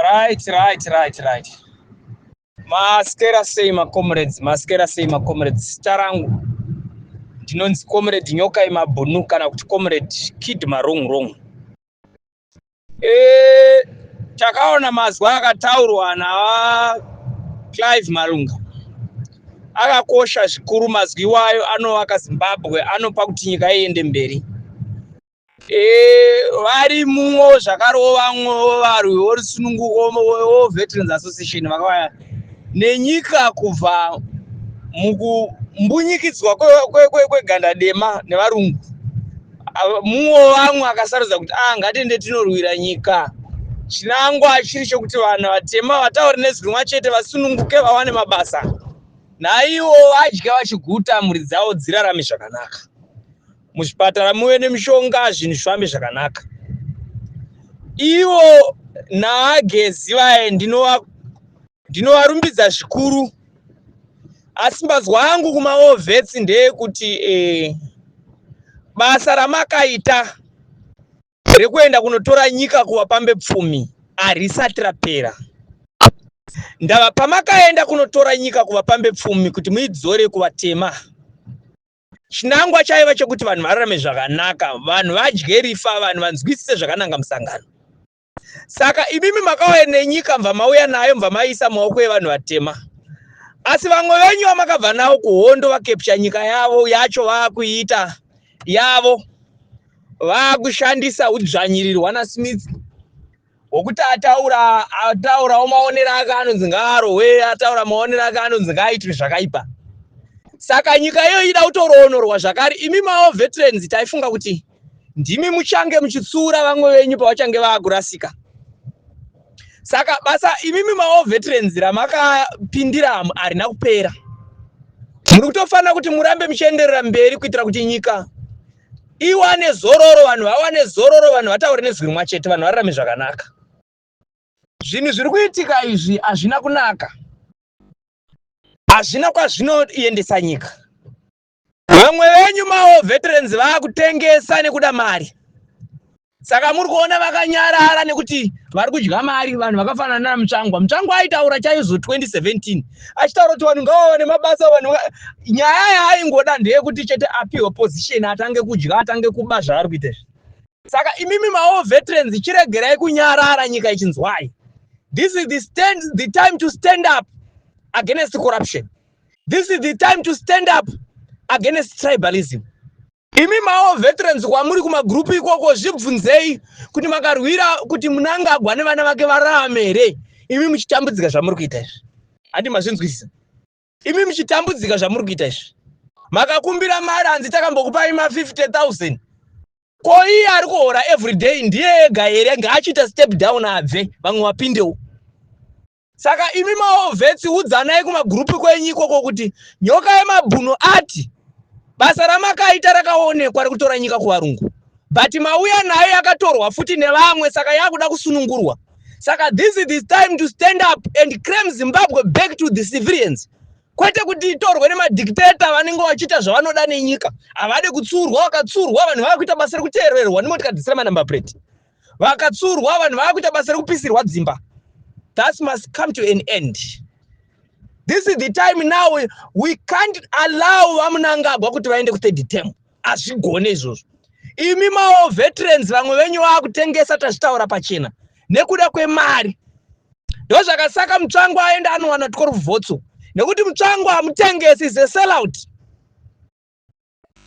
Right, right, right, right. Maskera sei ma comrades, maskera sei ma comrades. Tarangu. Ndinonzi comrade nyoka yemabhunu kana kuti comrade kid marong wrong. Eh, takaona mazwi akataurwa na Clive Malunga. Akakosha zvikuru mazwi iwayo anovaka Zimbabwe, anopa kuti nyika iende mberi. Eh, vari muwo zvakarova mwowo varwi vorusununguko veWarVeterans Association vakauya nenyika kubva mukumbunyikidzwa kweganda dema nevarungu. Muwo vamwe akasarudza kuti ah, ngatiende tinorwira nyika. Chinangwa chiri chokuti vanhu vatema vataure nezwi rimwe chete vasununguke vawane mabasa naivo vadya vachiguta mhuri dzavo dzirarame zvakanaka. muzvipatara muve nemishonga zvinhu zvifambe zvakanaka ivo naagezi vaye ndinovarumbidza zvikuru asi mbazwa angu kumaovhesi ndeyekuti eh, basa ramakaita rekuenda kunotora nyika kuvapambe pfumi harisati rapera ndava pamakaenda kunotora nyika kuvapambe pfumi kuti muidzore kuvatema chinangwa chaiva chekuti vanhu vararame zvakanaka vanhu vadye rifa vanhu vanzwisise zvakananga musangano saka imimi makauya nenyika mva mauya nayo mva maiisa maoko evanhu vatema asi vamwe venyu vamakabva navo kuhondo vakepcha nyika yavo yacho vaakuiita yavo vaakushandisa udzvanyirirwa nasmith wokuti ataura ataurawo maonero ake anonzi ngaarohwe ataura maonero ake anonzi ngaaitwe zvakaipa saka nyika iyo ida kutoroonorwa zvakare imi mawo veterans taifunga kuti ndimi muchange muchitsura vamwe venyu pavachange vaakurasika saka basa imimi mawo veterans ramakapindira harina kupera muri kutofanira kuti murambe muchienderera mberi kuitira kuti nyika iwane zororo vanhu vawane zororo vanhu vataure nezwi rimwa chete vanhu vararame zvakanaka zvinhu zviri kuitika izvi hazvina kunaka hazvina kwazvinoendesa nyika vamwe venyu mawo veterans vaakutengesa nekuda mari Saka muri kuona vakanyarara nekuti vari kudya mari vanhu vakafanana na Mutsvangwa. Mutsvangwa aitaura chaizvo 2017 achitaura kuti vanhu ngavawane mabasa vanhu nyaya yaaingoda ndeyekuti chete apiwe position atange kudya atange kuba zvaari kuita izvi. Saka imimi mawo veterans chiregerai kunyarara nyika ichinzwai. This is the stand the time to stand up against corruption. This is the time to stand up against tribalism. Imi mawo veterans kwamuri kumagroup ikoko zvibvunzei kuti makarwira kuti munangagwa nevana vake vararame here imi muchitambudzika zvamuri kuita izvi handi mazvinzwisisa imi muchitambudzika zvamuri kuita izvi makakumbira mari hanzi takambokupai ma 50000 ko iye ari kuhora everyday ndiye ega here ngaachiita step down abve vamwe wapindewo Saka imi maovhetsi udzanai kumagurupu kwenyu ikoko kuti nyoka yemabhunu ati basa ramakaita rakaonekwa rekutora nyika kuvarungu but mauya nayo yakatorwa futi nevamwe saka yakuda kusunungurwa saka this is this time to stand up and claim zimbabwe back to the civilians kwete kuti itorwe nemadictator vanenge vachiita zvavanoda nenyika havade kutsurwa vakatsurwa vanhu vava kuita basa rekuteererwa nemotikadisira manumber plate vakatsurwa vanhu vaakuita basa rekupisirwa dzimba that must come to an end this is the time now we can't allow vamunangagwa kuti vaende kuthird term hazvigone izvozvo imi mawo veterans vamwe venyu vaakutengesa tazvitaura pachena nekuda kwemari ndo zvakasaka mutsvango aenda anowana tiko ruvhotso nekuti mutsvango hamutengesi is a sellout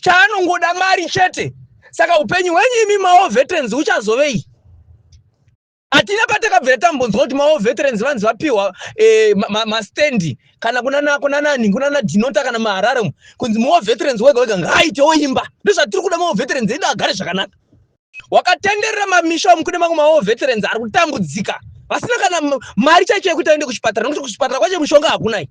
chaanongoda mari chete saka upenyu hwenyu imi mawo veterans uchazovei hatina patakabvira tambonzwa kuti mawo veterans vanzi vapiwa eh, mastandi kana kunanani kunana dinota kana maharare kunzi mawo veterans wega wega ngaaitewo imba ndozvatiri kuda mawo veterans edu agare zvakanaka wakatenderera mamisha umu kune mamwe mawo veterans ari kutambudzika vasina kana mari chaicho yekuti aende kuchipatara nokuti kuchipatara kwacho mushonga hakunai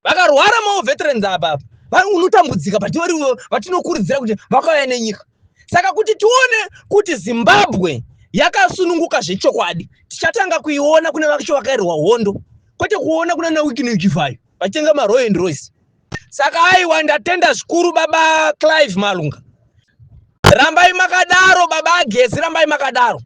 vakarwara mawo veterans apa apa unotambudzika but vari vatinokurudzira kuti vakauya nenyika saka kuti tione kuti zimbabwe yakasununguka zvechokwadi tichatanga kuiona kune vacho vakairwa hondo kwete kuona kuna nawikineukivayo vachitenga maroy and royce Saka aiwa ndatenda zvikuru baba Clive Malunga. Rambai makadaro baba Agezi rambai makadaro.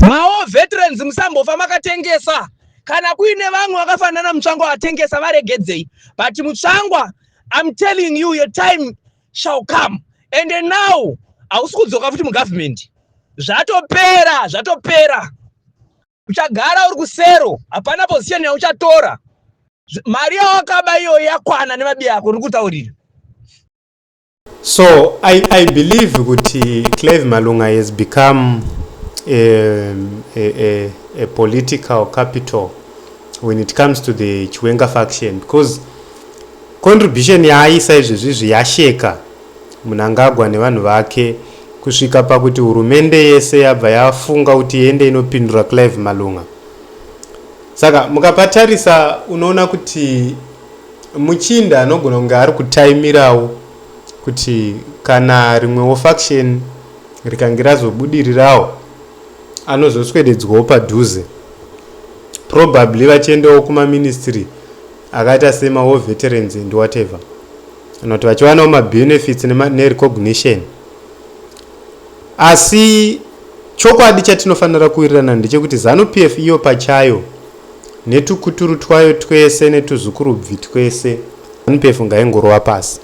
Mawo veterans musambofa makatengesa. Kana kuine vamwe vakafanana mutsvangwa vatengesa varegedzei. But mutsvangwa I'm telling you your time shall come. And now hausi kudzoka futi mugovernment. Zvatopera, zvatopera. uchagara uri kusero hapana position yauchatora mari yawakaba iyoyo yakwana nemabi yako uri kutaurira so i, I believe kuti clave malunga has become a, a, a, a political capital when it comes to the chiwenga faction because contribution yaaisa izvezvi izvi yasheka Mnangagwa nevanhu vake kusvika pakuti hurumende yese yabva yafunga kuti iende inopindura Clive Malunga. Saka mukapatarisa unoona kuti muchinda anogona kunge ari kutaimirawo kuti kana rimwewo faction rikange razobudirirawo anozoswededzwawo padhuze probably vachiendawo kumaministry akaita semawo veterans and whatever kana kuti vachiwanawo mabenefits nerecognition asi chokwadi chatinofanira kuwirirana ndechekuti zanu p f iyo pachayo netukuturu twayo twese netuzukurubvi twese zanu p f ngaingorova pasi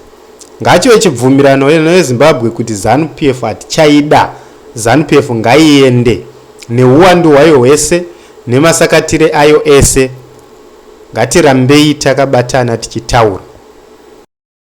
ngachive chibvumirano nezimbabwe kuti zanu p f hatichaida zanu p f ngaiende neuwandu hwayo hwese nemasakatire ayo ese Ngatirambei takabatana tichitaura.